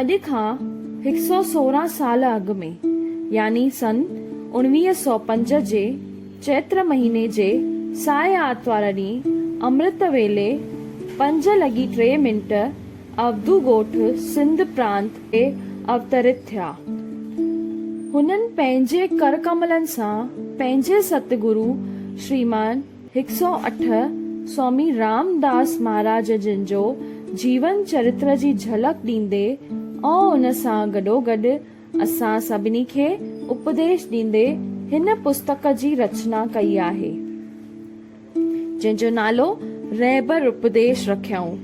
اڄ کان هڪ سؤ سورهن سال اڳ ۾ يعني سن اوڻويهه سؤ پنج جي چيتر مهيني جي سائي آرتوار ڏينهن امرت ويلي پنج لڳي ٽي منٽ اودو ڳوٺ سنڌ پرانت تي اوترت ٿيا. هنن پنهنجي ڪرڪملن سان پنهنجي ست گرو شريمان، هڪ سؤ اٺ، سوامي رام داس مهاراج جن جو جيون چرتر جي جهلڪ ڏيندي ۽ ان سان گڏوگڏ اسان سڀني کي اپديش ڏيندي هن پستڪ جي رچنا ڪئي آهي، جنهن جو نالو رهبر اپديش رکيائون،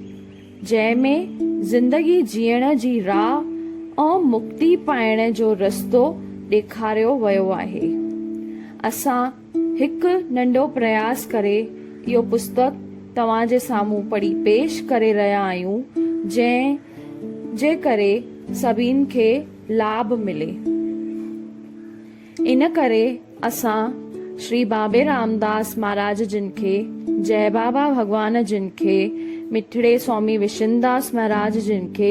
جنهن ۾ زندگي جيئڻ جي راهه ۽ مڪتي پائڻ جو رستو ڏيکاريو ويو آهي. اسان. هڪ ننڍو پرياس ڪري اهو پستڪ توهان جي سامهون پڙهي پيش ڪري رهيا آهيون جنهن جي ڪري سڀني کي لاڀ ملي ان ڪري اسان شري بابي رامداس مهاراج جن کي جئي بابا ڀڳوان جن کي مٺڙي سوامي وشنداس مهاراج جن کي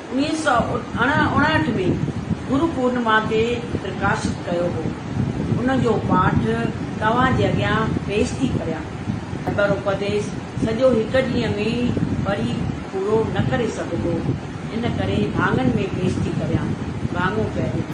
انهيء سؤ اڻاهٺ ۾ گرو پورنما تي پرڪاشت ڪيو هو. ان جو پاٺ توهان جي اڳيان پيش ٿي ڪريان. اڪبر اپديش سڄو هڪ ڏينهن ۾ ئي پڙهي پورو نه ڪري سگهبو، ان ڪري ڀاڱن ۾ پيش ٿي ڪريان. ڀاڱو پهريون.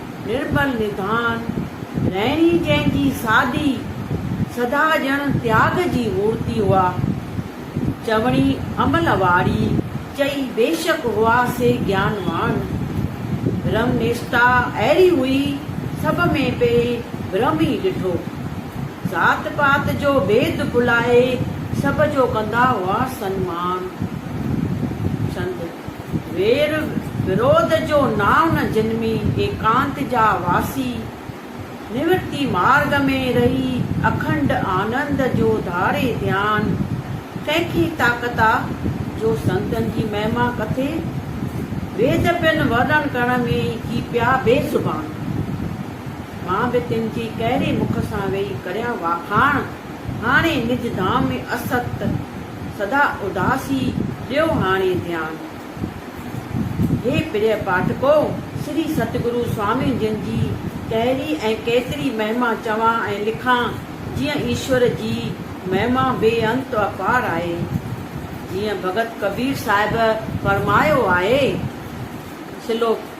نرمل نڌان رهڻي جنهن جي سادي سڌا ڄڻ تياڳ جي مورتي هئا. چوڻي عمل واري چئي بيشڪ هئا سي گيان واڻ. برهم نشتا اهڙي هئي سڀ ۾ پئي برهم ئي ڏٺو. ذات پات جو ڀيد ڀلائي سڀ جو ڪندا هئا سنمان. سنڌ. وير ورودھ جو نانء نه جنمي، ايڪانت جا واسي نورتي مارگ ۾ رھي، اکنڊ آنند جو ڌاري ڌيان، ڪنھن کي طاقت آ، جو سنتن جي مھما ڪٿي، ويد پن ورڻن ڪرڻ ۾ ئي ٿي پيا بي زبان، مان به تن جي ڪهڙي مک سان ويھي ڪريان واکاڻ، هاڻي نج ڌام ۾ اسڪت سدا اداس ئي ڏيو هاڻي ڌيان. هي پريء پاٺڪو! سري ستگرو سوامين جن جي ڪهڙي ۽ ڪيتري مهما چوان ۽ لکان، جيئن ايشور جي مهما بي انت و اپار آهي. جيئن ڀڳت ڪبير صاحب فرمايو آهي. سلوڪ.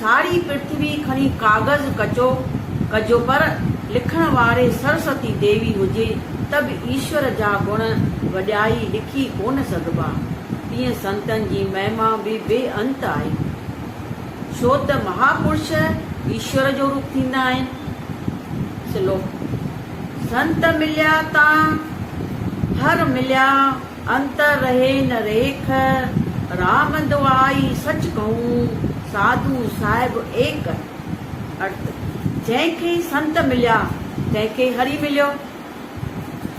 ساڙي پرٿوي کڻي ڪاغذ ڪچو ڪجو پر لکڻ واري سرسوتي ديوي هجي ته به ايشور جا گڻ وڏيائي لکي ڪونه سگهبا. تيئن سنتن جي مهما به بي انت آهي. ڇوته مهاپرش ايشور جو روپ ٿيندا آهن. سلوڪ، سنت مليا تان هر مليا انت رهي نه ريک، رام دوائي سچ ڪهون، ساڌو صاحب ايڪ. ارت، جنهن کي سنت مليا، تنهن کي هري مليو.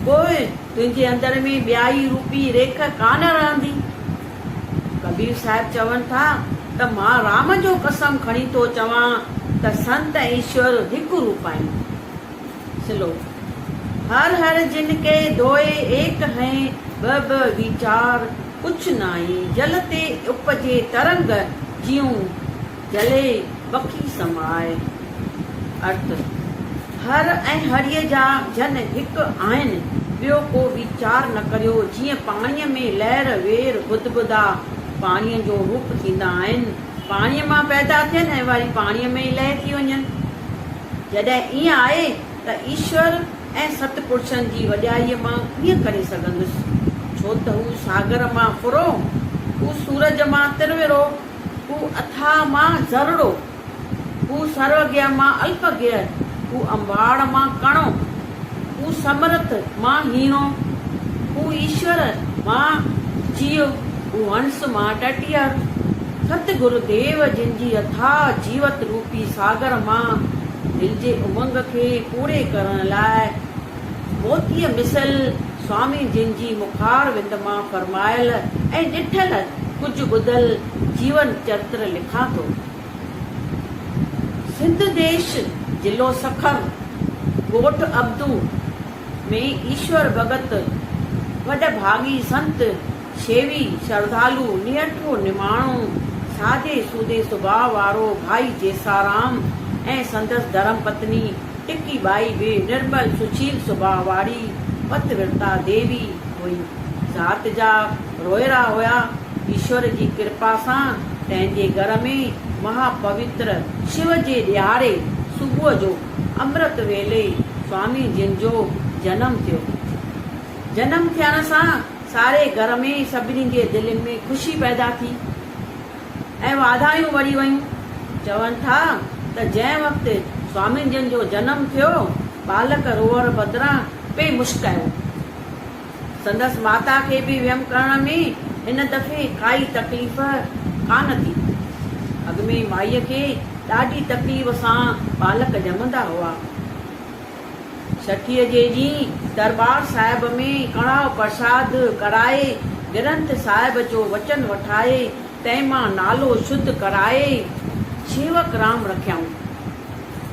پوء تنهنجي اندر ۾ ٻيائي روپي ريک ڪا نه رهندي. ڪبير صاحب چون ٿا ته مان رام جو قسم کڻي ٿو چوان ته سنت ۽ ايشور هڪ روپ آهن. سلوڪ، هر هر جن ڪي دوئي ايڪ هين ٻه ٻه ويچار ڪڇ نائين جل تي اپجي ترنگ جيون جلي بکي سمائي. ارٿ، هر ۽ هريء جا جن هڪ آهن ٻيو ڪو ويچار نه ڪريو جيئن پاڻيء ۾ لهر وير بدبدا پاڻيء جو روپ ٿيندا آهن، پاڻيء مان پيدا ٿين ۽ وري پاڻيء ۾ ئي لئه ٿي وڃن. جڏهن ائين آهي ته ايشور ۽ ست پرشن جي وڏيائيء مان ڪيئن ڪري سگهندس؟ ڇو ته هو ساگر مان ڦرو، هو سورج مان ترورو، هو اٿاهه مان ذرڙو، هو سرو گيه مان الپ گيه، هو انباڙ مان ڪڻو. هو سمرٿ مان هيڻو، هو ايشور مان جيو، هو هنس مان ٽٽيهر. ست گرو ديو جن جي اٿاهه جيوت روپي ساگر مان دل جي امنگ کي پوري ڪرڻ لاء موتيء مثل سوامي جن جي مخار وند مان فرمايل ۽ ڏٺل ڪجهه ٻڌل جيون چرتر لکان ٿو. سنڌ ديش، ضلعو سکر، ڳوٺ ابدو ۾ ايشور ڀڳت وڏ ڀاڳي سنت، شيوي، شرڌالو، نيٺو، نماڻو، سادي سودي سڀاء وارو ڀائي جيسارام ۽ سندس ڌرم پتني ٽڪي ٻائي به نرمل سشيل سڀاء واري پت ورتا ديوي هئي. ذات جا. روئي رھا ھيا. ايشور جي ڪرپا سان پنھنجي گھر ۾ مھا پوتر شو جي ڏھاڙي صبح جو امرت ويلي سوامي جن جو جنم ٿيو. جنم ٿيڻ سان ساري گھر ۾ سڀني جي دلين ۾ خوشي پيدا ٿي ۽ واڌايون ورھي ويون. چون ٿا ته جنھن وقت سوامي جن جو جنم ٿيو ٻالڪ روئڻ بدران پئي مشڪايو. سندس ماتا کي به ويم ڪرڻ ۾ هن دفعي ڪائي تڪليف ڪانه ٿي. اڳ ۾ مائيء کي ڏاڍي تڪليف سان ٻالڪ ڄمندا هئا. ڇٺيء جي ڏينهن درٻار صاحب ۾ ڪڙاهه پرساد ڪرائي، گرنٿ صاحب جو وچن وٺائي، تنهن مان نالو شڌ ڪرائي شيوڪ رام رکيائون.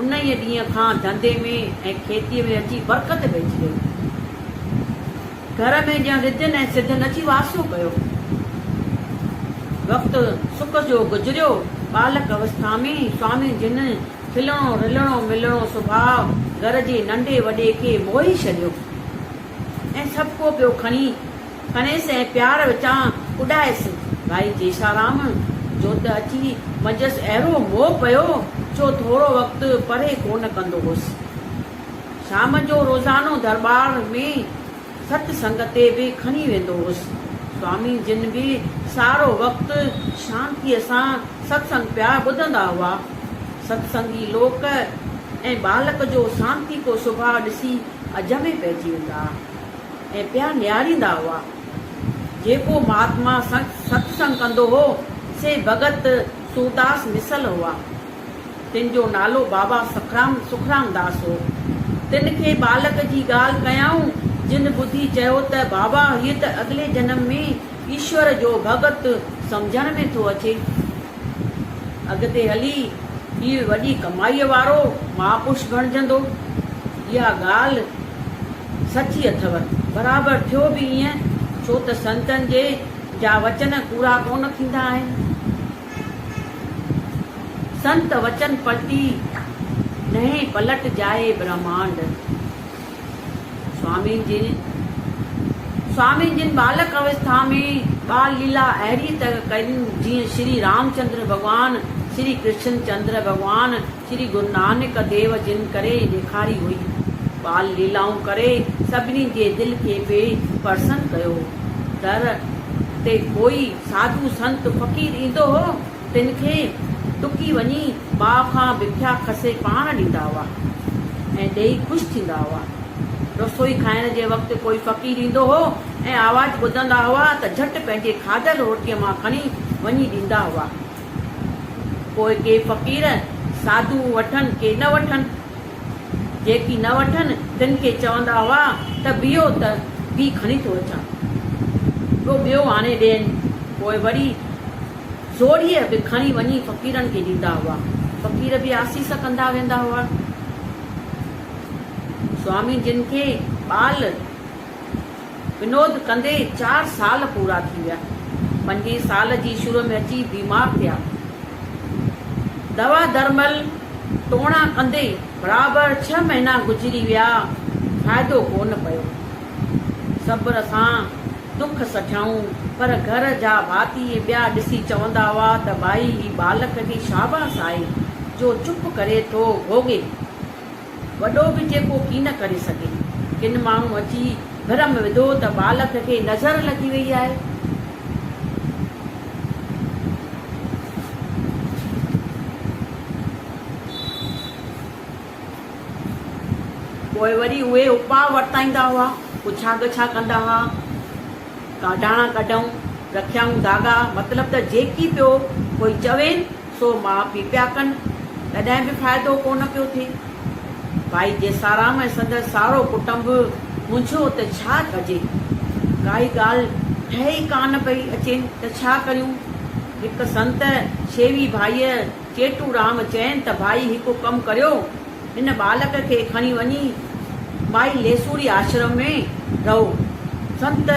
انهيء ڏينهن کان ڌنڌي ۾ ۽ کيتيء ۾ اچي برڪت پئجي وئي. گهر ۾ ڄڻ رڌين ۽ سڌن اچي واسو ڪيو. وقت سڪ جو گذريو. ٻالڪ اوسٿا ۾ سوامي جن کلڻو رلڻو ملڻو سڀاء گهر جي ننڍي وڏي کي موهي ڇڏيو. ۽ سڀ ڪو پيو کڻي کڻيس ۽ پيار وچان اڏائيس. ڀائي ڪيشارام جو ته اچي منجهس اهڙو موهه پيو جو ٿورو وقت پرهه ڪونه ڪندو هوس. شام جو روزانو درٻار ۾ ست سنگ تي به کڻي ويندو هوس. سوامي جن به سارو وقت شانتيء سان ست سنگ پيا ٻڌندا هئا. ست سنگي لوڪ ۽ ٻالڪ جو سانتيڪو سڀاء ڏسي اجهه ۾ پئجي ويندا ۽ پيا نهاريندا هئا. جيڪو مهاتما ستسنگ ڪندو هو، سي ڀڳت سورداس مثل هئا. تن جو نالو بابا سکرام داس هو. تن کي ٻالڪ جي ڳالهه ڪيائون، جن ٻڌي چيو ته بابا هيء ته اڳلي جنم ۾ ايشور جو ڀڳت سمجهڻ ۾ ٿو اچي. اڳتي هلي هي وڏي ڪمائيء وارو مهاپرش بڻجندو. اها ڳالهه سچي اٿو. برابر ٿيو به ائين، ڇو ته سنتن جي جا وچن ڪوڙا ڪونه ٿيندا آهن. سنت وچن پلٽي نهين پلٽجائي برهمانڊ. سوامين جن سوامين جن ٻالڪ اوسٿا ۾ ٻال ليلا اهڙيء طرح ڪئي جيئن شري رامچندر ڀڳوان، شري ڪرشن چندر ڀڳوان، شري گرونانڪ ديو جن ڪري ڏيکاري هئي. ٻال ليلائون ڪري سڀني جي دل کي پي پرسن ڪيو. در تي ڪوئي ساڌو سنت فقير ايندو هو. تن کي ٽڪي وڃي ٻاء کان بکيا کسي پاڻ ڏيندا هئا ۽ ڏيئي خوش ٿيندا هئا. رسوئي کائڻ جي وقت ڪوئي فقير ايندو هو ۽ آواز ٻڌندا هئا ته جهٽ پنهنجي کاڌل روٽيء مان کڻي وڃي ڏيندا هئا. پوء ڪي فقير ساڌو وٺن ڪي نه وٺن. جيڪي نه وٺن تن کي چوندا هئا ته بيهو ته بيهه کڻي ٿو اچان. ڪو ٻيو آڻي ڏين. پوء وري. جوڙيء به کڻي وڃي فقيرن کي ڏيندا هئا. فقير به آسيس ڪندا ويندا هئا. سوامي جن کي ٻال ونود ڪندي چار سال پورا ٿي ويا. پنجين سال جي شروع ۾ اچي بيمار ٿيا. دوا درمل ٽوڻا ڪندي برابر ڇهه مهينا گذري ويا. فائدو ڪونه پيو. صبر سان. دک سجهائون، پر گهر جا ڀاتي ۽ ٻيا ڏسي چوندا هئا ته ڀائي هي ٻالڪ جي شاباس آهي جو چپ ڪري ٿو گهوڳي، وڏو به جيڪو ڪين ڪري سگهي. ڪن ماڻهن اچي ڀرم وڌو ته ٻالڪ کي نظر لڳي وئي آهي. پوء وري اهي اپاء ورتائيندا هئا، پڇا ڳڇا ڪندا هئا، ڪاڍاڻا ڪڍئون، رکيائون ڌاڳا، مطلب ته جيڪي پيو ڪوئي چوين سو ماء پي پيا ڪن، تڏهن به فائدو ڪو نه پيو ٿئي. ڀائي جيسارام ۽ سندس سارو ڪٽنب منجهيو ته ڇا ڪجي؟ ڪائي ڳالهه ٺهي ئي ڪا نه پئي اچين ته ڇا ڪريون؟ هڪ سنت شيوي ڀائيء چيٽورام چين ته ڀائي هڪ ڪم ڪريو، هن ٻالڪ کي کڻي وڃي مائي ليسوڙي آشرم ۾ رهو، سنت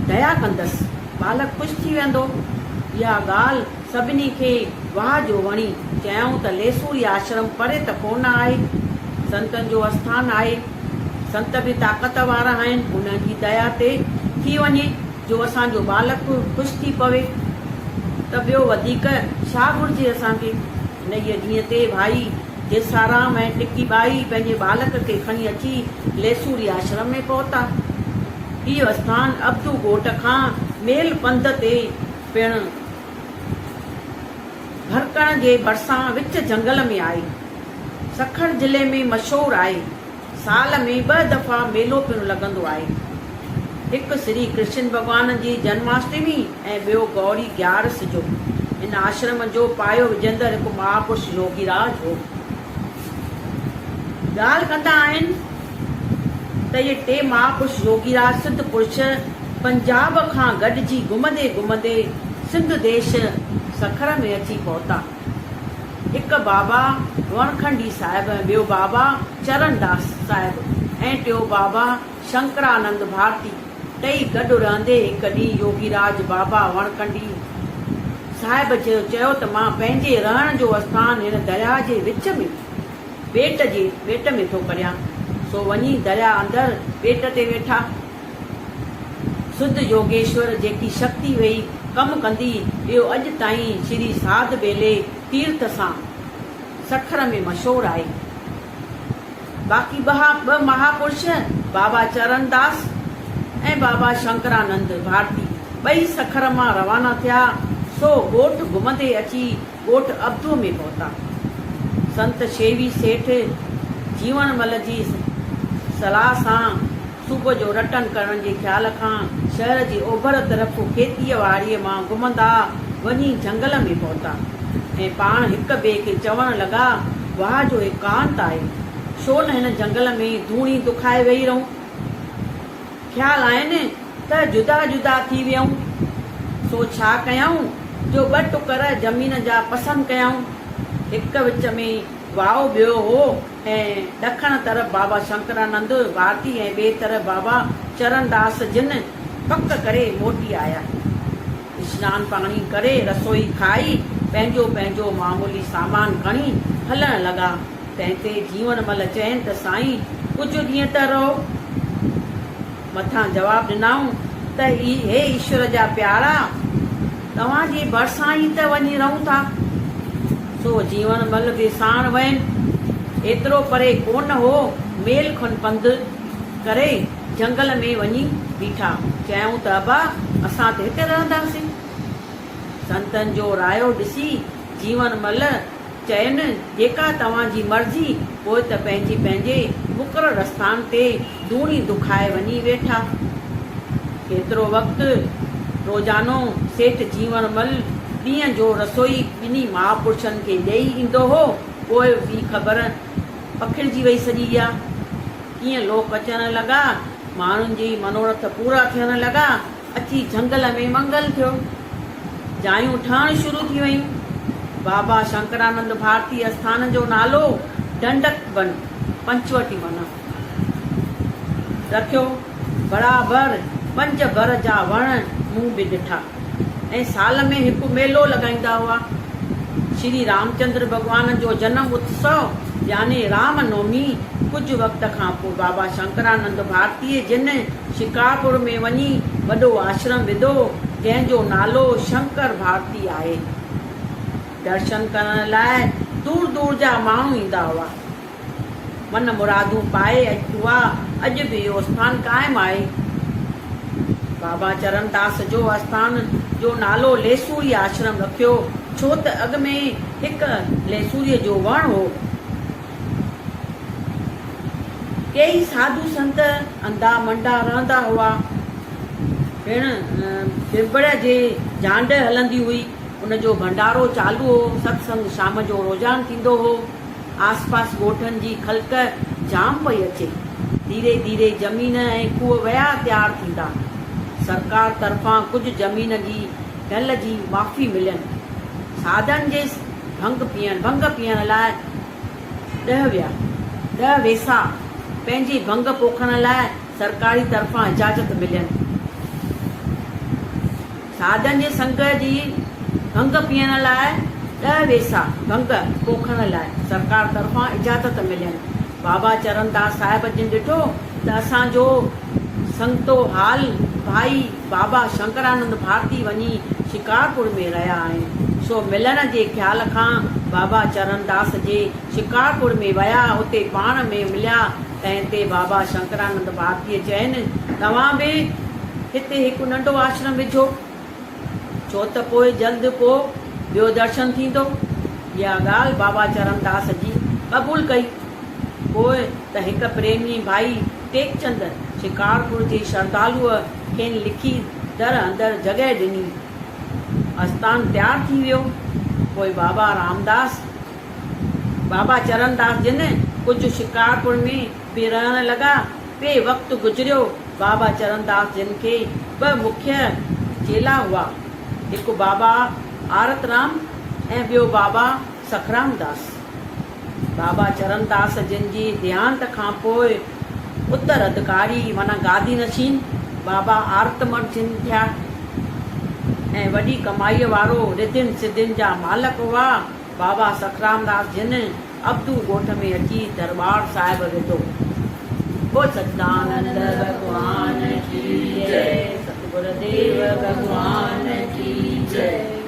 ديا ڪندس، ٻالڪ خوش ٿي ويندو. اها ڳالهه سڀني کي واهه جو وڻي، چيائون ته ليسوڙي آشرم پري ته ڪونه آهي، سنتن جو اسٿان آهي، سنت به طاقت وارا آهن، انهن جي ديا تي ٿي وڃي. جو اسان جو ٻالڪ خوش ٿي پوي ته ٻيو وڌيڪ ڇا گهرجي اسان کي. انهيء ڏينهن تي ڀائي جيسارام ۽ ٽڪي ٻائي پنهنجي ٻالڪ کي کڻي اچي ليسوري آشرم ۾ پهتا. هيء اسٿان ابدو ڳوٺ کان ميل پنڌ تي پڻ ڀرڪڻ جي ڀرسان وچ جهنگل ۾ آهي. سکر ضلعي ۾ مشهور آهي. سال ۾ ٻه دفعا ميلو پڻ لڳندو آهي. هڪ شري ڪرشن ڀڳوان جي جنماشٽمي ۽ ٻيو گئوري گيارس جو. هن آشرم جو پايو وجهندڙ هڪ مهاپرش يوگي راج هو. ڳالهه ڪندا آهن ته اهي ٽي مهاپرش يوگي راج سڌ پرش پنجاب کان گڏجي گهمندي گهمندي سنڌ ديش سکر ۾ اچي پهتا. هڪ بابا وڻکنڊي صاحب، ٻيو بابا چرن داس صاحب ۽ ٽيون بابا شنڪرانند ڀارتي، ٽئي گڏ رهندي هڪ ڏينهن يوگيراج بابا وڻکنڊي صاحب جو چيو ته مان پنهنجي رهڻ جو اسٿان هن درياهه جي وچ ۾ ٻيٽ جي ٻيٽ ۾ ٿو ڪريان، سو وڃي درياهه اندر ٻيٽ تي ويٺا. سڌ يوگيشور جيڪي شڪتي ويئي ڪم ڪندي اهو اڄ تائين شري ساڌ ٻيلي تيرٿ سان سکر ۾ مشهور آهي. باقي ٻها ٻه مهاپرش بابا چرن داس ۽ بابا شنڪرانند ڀارتي ٻئي سکر مان روانا ٿيا سو ڳوٺ گهمندي اچي ڳوٺ ابدو ۾ پهتا. سنت شيوي سيٺ جيوڻ مل جي صلاح سان صبح جو رٽن ڪرڻ جي خيال کان شهر جي اوڀر طرف کيتيء واريء مان گهمندا وڃي جهنگل ۾ پهتا ۽ پاڻ هڪ ٻئي کي چوڻ لڳا، واهه جو هي ڪانت آهي، ڇو نه هن جهنگل ۾ ڌوڻي دکائي ويهي رهون؟ خيال آهن ته جدا جدا ٿي ويئون، سو ڇا ڪيائون جو ٻه ٽڪر زمين جا پسند ڪيائون، هڪ وچ ۾ واء ٻيو هو ۽ ڏکڻ طرف بابا شنڪرانند ڀارتي ۽ ٻئي طرف بابا چرنڌاس جن پڪ ڪري موٽي آيا. اسنان پاڻي ڪري رسوئي کائي پنهنجو پنهنجو معمولي سامان کڻي هلڻ لڳا. تنهن تي جيوڻ مل چين ته سائين ڪجهه ڏينهن ته رهو. مٿان جواب ڏنائون ته اي هي ايشور جا پيارا! توهان جي ڀرسان ئي ته وڃي رهون ٿا. سو جيوڻ مل به ساڻ وين. ايترو پري ڪونه هو، ميل کن پنڌ ڪري جهنگل ۾ وڃي بيٺا. چيائون ته ابا اسان ته هتي رهنداسين. سنتن جو رايو ڏسي جيوڻ مل چين، جيڪا توهان جي مرضي، پوء ته پنهنجي پنهنجي مقرر آستان تي دوني دکائي وڃي ويٺا. ڪيترو وقت روزانو سيٺ جيوڻ مل ڏينهن جو رسوئي ٻنهي ماء پڙڇن کي ڏيئي ايندو هو، پوء به خبر پکڙجي وئي سڄي اها. ڪيئن لوڪ اچڻ لڳا، ماڻهن جي منوڙٿ پورا ٿيڻ لڳا. اچي جهنگل ۾ منگل ٿيو. جايون ٺهڻ شروع ٿي ويون. بابا شنڪرانند ڀارتي اسٿان جو نالو ڍنڍڪ بن، پنچوٽي معنيٰ، رکيو. برابر پنج بر جا وڻ مون به ڏٺا ۽ سال ۾ هڪ ميلو لڳائيندا هئا. شري رامچندر ڀڳوان جو جنم اتسو يعني رام نومي ڪجهه وقت کان پوء بابا شنڪرانند ڀارتيء جن شڪارپور ۾ وڃي وڏو آشرم وڌو، جنهن جو نالو شنڪر ڀارتي آهي. درشن ڪرڻ لاء دور دور جا ماڻهو ايندا هئا. من مرادون پائي اها اڄ به اهو اسٿان قائم آهي. بابا چرنداس جو اسٿان جو نالو ليسوري آشرم رکيو، ڇو ته اڳ ۾ هڪ ليسوريء جو وڻ هو. ڪيئي ساڌو سنت انڌا منڊا رهندا هئا. پڻ ٻٻڙ جي جانڊ هلندي هئي. ان جو ڀنڊارو چالو هو. ستسنگ شام جو روزان ٿيندو هو. آس پاس ڳوٺن جي خلق جام پئي اچي. ڌيري ڌيري زمين ۽ کوهه ويا تيار ٿيندا. سرڪار طرفان ڪجهه زمين جي ڍل جي معافي ملين. ساڌن جي ڀنگ پيئڻ لاء ڏهه ويا. ڏهه ويسا پنهنجي ڀنگ پوکڻ لاء سرڪاري طرفان اجازت ملين. سادن جي سنگ جي ڀنگ پيئڻ لاء ڏهه ويسا ڀنگ پوکڻ لاء سرڪار طرفان اجازت ملين. بابا چرنداس صاحب جن ڏٺو ته اسان جو سنگتو حال ڀائي بابا شنڪرانند ڀارتي وڃي شڪارپور ۾ رهيا آهن، سو ملڻ جي خيال کان بابا چرنداس جي شڪارپور ۾ ويا، اتي پاڻ ۾ مليا، تنهن تي بابا شنڪرانند ڀارتيء چين، توهان به هتي هڪ ننڍو آشرم وجهو، ڇو ته پوء جلد ڪو ٻيو درشن ٿيندو. اها ڳالهه بابا چرنداس جي قبول ڪئي. پوء ته هڪ پريمي ڀائي ٽيڪچند شڪارپور جي شردالوء کين لکي در اندر جڳهه ڏني. آستان تيار ٿي ويو. پوء بابا رامداس، بابا چرنداس جن ڪجهه شڪارپور ۾ به رهڻ لڳا. پي وقت گذريو. بابا چرنداس جن کي ٻه مکيه چيلا هئا. هڪ بابا آرترام ۽ ٻيو بابا سکرامداس. بابا چرنداس جن جي ديهانت کان پوء اتر اڌڪاري معنيٰ گادي نشين بابا آرتمر جن ٿيا ۽ وڏي ڪمائيء وارو رڌين سڌين جا مالڪ هئا. بابا سکرامداس جن ابدو ڳوٺ ۾ اچي درٻار صاحب وڌو. بول سچدانند ڀڳوان ڪي جئي ستگور ديو ڀڳوان ڪي جئي.